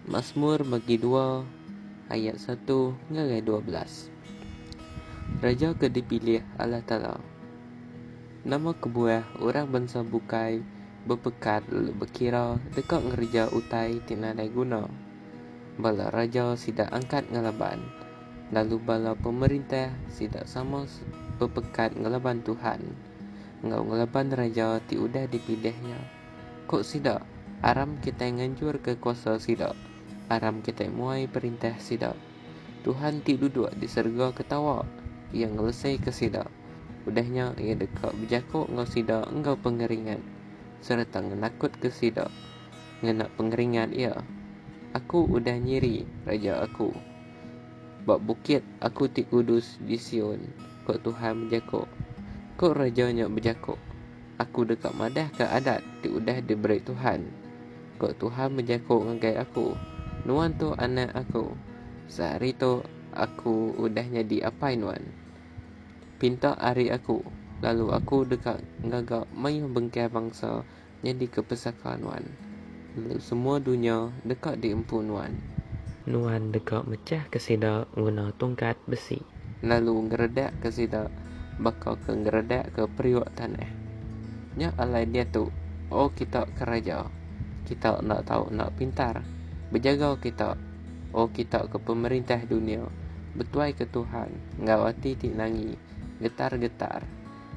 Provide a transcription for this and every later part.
Masmur bagi dua ayat satu ngagai dua belas. Raja ke dipilih Allah Taala. Nama kebuah orang bansa bukai bepekat lalu bekira deka ngereja utai ti nadai guna? Bala raja sida angkat ngelaban, lalu bala pemerintah sida sama bepekat ngelaban Tuhan enggau ngelaban Raja ti udah dipilih nya. Ku sida, Aram kitai nganjurka kuasa sida, aram kitai muai perintah sida. Tuhan ti duduk di serega ketawa, Iya ngelesika sida. Udah nya Iya deka bejaku enggau sida enggau pengeringat, sereta ngenakutka sida ngena pengeringat Iya. Aku udah nyiri Raja aku ba bukit Aku ti kudus di Sion, ku Tuhan bejaku, ku Raja nya bejaku. Aku deka madahka adat ti udah diberi Tuhan, ku Tuhan bejaku ngagai aku, Nuan tu Anak Aku, sehari tu Aku udah nyadi Apai nuan. Pinta ari Aku, lalu Aku deka ngaga mayuh bengkah bangsa nyadika pesaka nuan. Lalu semua dunya deka diempu Nuan. Nuan deka mechahka sida nguna tungkat besi. Lalu ngeredakka sida baka ke ngeredakka periuk tanah. Nya alai diatu, O kita ke raja, kita enda tau enda pintar. Bejaga kita, O kita ke pemerintah dunya, betuaika Tuhan enggau ati ti nangi, getar-getar.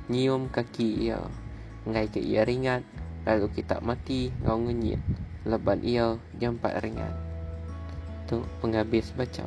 nyium kaki iya, enggaika iya ringat lalu kita mati enggau ngenyit leban iya jampat ringat. Tu pengabis bacha.